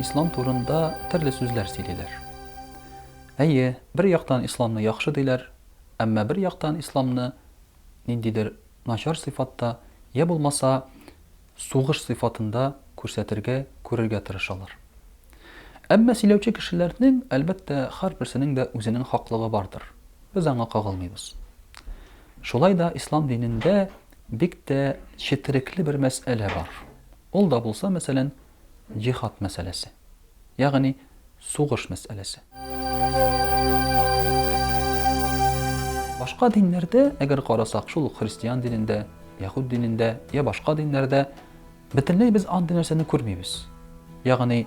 Ислам турында төрле сүзләр сөйлиләр. Әйе, бер яктан исламны яхшы диләр, әмма бер яктан исламны ниндидер начар сыйфатта, йә булмаса сугыш сыйфатында күрсәтергә, күрергә тырышалар. Әмма сөйләүче кешеләрнең, әлбәттә, һәрберсенең дә үзенең хаклыгы бардыр. Без аңа кагылмыйбыз. Шулай да ислам динендә бик тә четерекле бер мәсьәлә бар. Ул да булса, мәсәлән, Җиһад мәсьәләсе. Ягъни, сугыш мәсьәләсе. Башка диннәрдә, әгәр карасак, шул ук христиан динендә, яһүд динендә, йә башка диннәрдә, бөтенләй без андый нәрсәне күрмибез. Ягъни,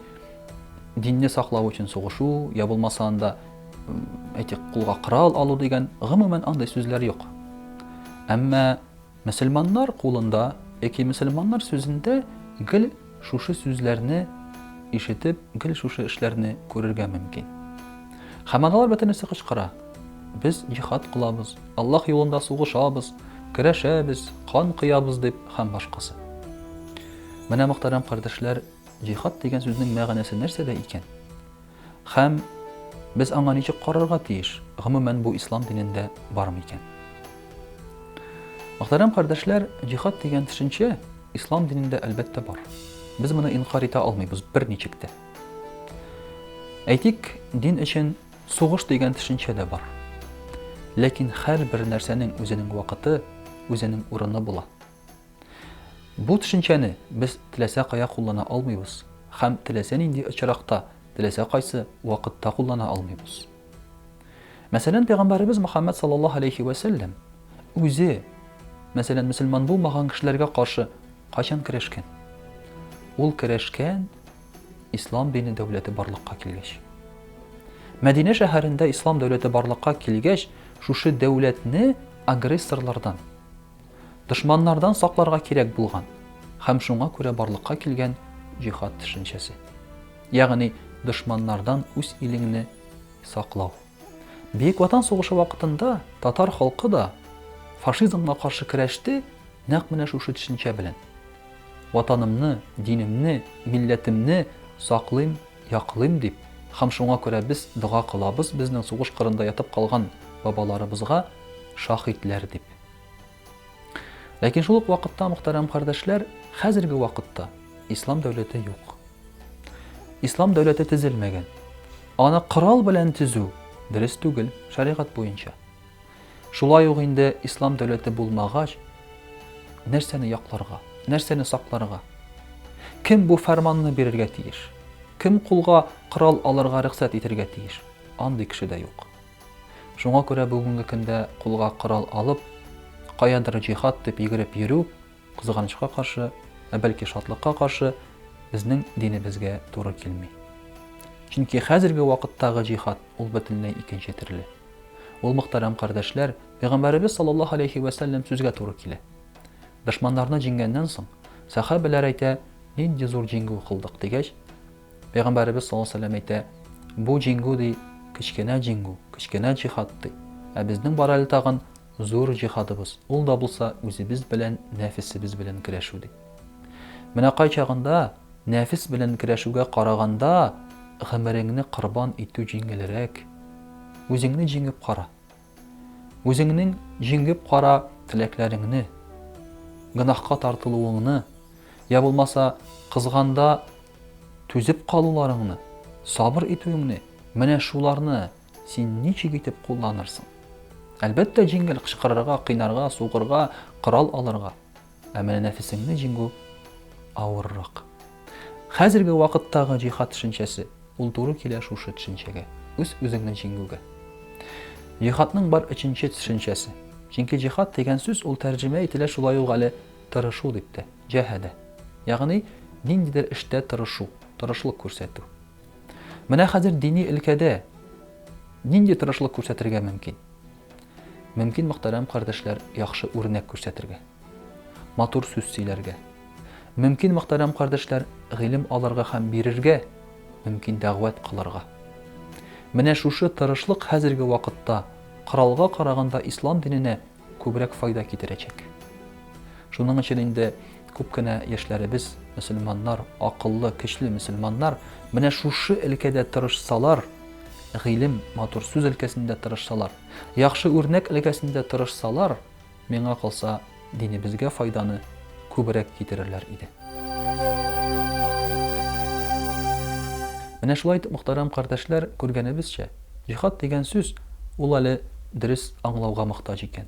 динне саклау өчен сугышу, йә булмаса анда, әйтик, кулга корал алу дигән, гомумән андый сүзләр юк. Әмма Мөселманнар кулында яки мөселманнар сүзендә гел шушы сүзләрне ишетеп, гел шушы эшләрне күрергә мөмкин. Хаманалар бөтенесе кычкыра. Без җихад кылабыз, Аллаһ юлында сугышабыз, көрәшәбез, кан коябыз дип һәм башкасы. Менә мөхтәрәм кардәшләр, җихад дигән сүзнең мәгънәсе нәрсәдә икән? Һәм без аңа ничек карарга тиеш? Гомумән, бу ислам динендә бар микән? Мөхтәрәм кардәшләр, җихад дигән төшенчә ислам динендә әлбәттә бар. Без моны инкар итә алмыйбыз берничек тә. Әйтик, дин өчен сугыш дигән төшенчә дә бар. Ләкин һәрбер нәрсәнең үзенең вакыты, үзенең урыны була. Бу төшенчәне без теләсә кая куллана алмыйбыз һәм теләсә нинди очракта, теләсә кайсы вакытта куллана алмыйбыз. Мәсәлән, пәйгамбәребез Мөхәммәд саллаллаһу алейхи вә сәлләм үзе, мәсәлән, мөселман булмаган кешеләргә каршы кайчан керәшкән? Ул керәшкән ислам дине дәүләте барлыкка килгәч. Мәдинә шәһәрендә ислам дәүләте барлыкка килгәч, шушы дәүләтне агрессорлардан, Дошманнардан сакларга кирәк булган һәм шуңа күрә барлыкка килгән җихад төшенчәсе. Ягъни дошманнардан үз илеңне саклау. Бөек Ватан сугышы вакытында татар халкы да фашизмга каршы көрәште нәкъ менә шушы төшенчә белән. Ватанымны, динемне, милләтемне саклыйм, яклыйм дип һәм шуңа күрә без дога кылабыз безнең сугыш кырында ятып калган бабаларыбызга шаһитләр дип. Ләкин шул ук вакытта, мөхтәрәм кардәшләр, хәзерге вакытта ислам дәүләте юк. Ислам дәүләте төзелмәгән. Аны корал белән төзү дөрес түгел, шәригать буенча. Шулай ук инде ислам дәүләте булмагач, нәрсәне якларга, нәрсәне сакларга? Кем бу фәрманны бирергә тиеш? Кем кулга корал алырга рөхсәт итергә тиеш? Андый кеше дә юк. Шуңа күрә бүгенге көндә кулга корал алып, каядыр җихад дип йөгереп йөрү, кызганычка каршы, ә бәлки шатлыкка каршы, безнең динебезгә туры килми. Чөнки хәзерге вакыттагы җихад, ул бөтенләй икенче төрле. Ул, мөхтәрәм кардәшләр, Пәйгамбәребез саллаллаһу алейһи вә сәлләм сүзгә туры килә. Дошманнарны җиңгәннән соң, сәхабәләр әйтә, Нинди зур җиңү кылдык, дигәч, Пәйгамбәребез саллаллаһу алейһи ва сәлләм әйтә, Бу җиңү, ди, кечкенә җиңү, кечкенә җиһад, ди. Ә безнең бар әле тагын зур җиһадыбыз, ул да булса үзебез белән нәфесебез белән көрәшү, ди. Менә кайчагында нәфес белән көрәшүгә караганда гомереңне корбан итү җиңелрәк. Үзеңне җиңеп кара. Үзеңнең җиңеп кара теләкләреңне, гөнаһка тартылуыңны, я булмаса кызганда түзеп калуларыңны, сабыр итүеңне, менә шуларны син ничек итеп кулланырсың? Әлбәттә, җиңел кычкырырга, кыйнарга, сугырга, корал алырга. Ә менә нәфесеңне җиңү авыррак. Хәзерге вакыттагы җиһад төшенчәсе, ул туры килә шушы төшенчәгә, үз-үзеңне җиңүгә. Җиһадның бар өченче төшенчәсе. Чөнки җиһад дигән сүз ул тәрҗемә ителә шулай ук әле тырышу дип тә, җәһәдә. Ягъни ниндидер эштә тырышу, тырышлык күрсәтү. Менә хәзер дини өлкәдә нинди тырышлык күрсәтергә мөмкин? Мөмкин мөхтәрәм кардәшләр яхшы үрнәк күрсәтергә. Матур сүз сөйләргә. Мөмкин мөхтәрәм кардәшләр гыйлем алырга һәм бирергә, мөмкин дәгъвәт кылырга. Менә шушы тырышлык хәзерге вакытта коралга караганда ислам диненә күбрәк файда китерәчәк. Шуның өчен инде күп кенә яшьләребез, мөселманнар, акыллы, көчле мөселманнар, менә шушы өлкәдә тырышсалар, гыйлем, матур сүз өлкәсендә тырышсалар, яхшы үрнәк өлкәсендә тырышсалар, миңа калса, динебезгә файданы күбрәк китерерләр иде. Менә шулай итеп, мөхтәрәм кардәшләр, күргәнебезчә, җихад дигән сүз, ул әле дөрес аңлауга мохтаҗ икән.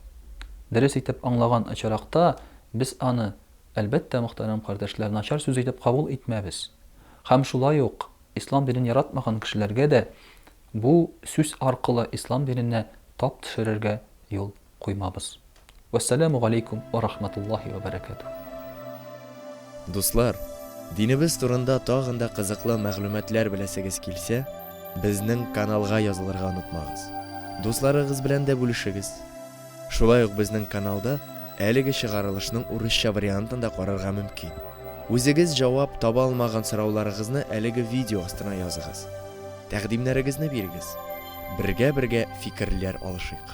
дөрес итеп аңлаган очракта, без аны, әлбәттә, мөхтәрәм кардәшләр, начар сүз итеп кабул итмәбез. Һәм шулай ук Ислам динен яратмаган кешеләргә дә бу сүз аркылы Ислам диненә тап төшерергә юл куймабыз. Вәссәләмү галәйкүм вә рахмәтуллаһи вә бәрәкәтүһ. Дуслар, динебез турында тагын да кызыклы мәгълүматлар беләсегез килсә, безнең каналга язылырга онытмагыз. Дусларыгыз белән дә бүлешегез. Шулай ук безнең каналда әлеге чыгарылышның урысча вариантын да карарга мөмкин. Үзегез җавап таба алмаган сорауларыгызны әлеге видео астына языгыз. Тәкъдимнәрегезне бирегез. Бергә-бергә фикерләр алышыйк.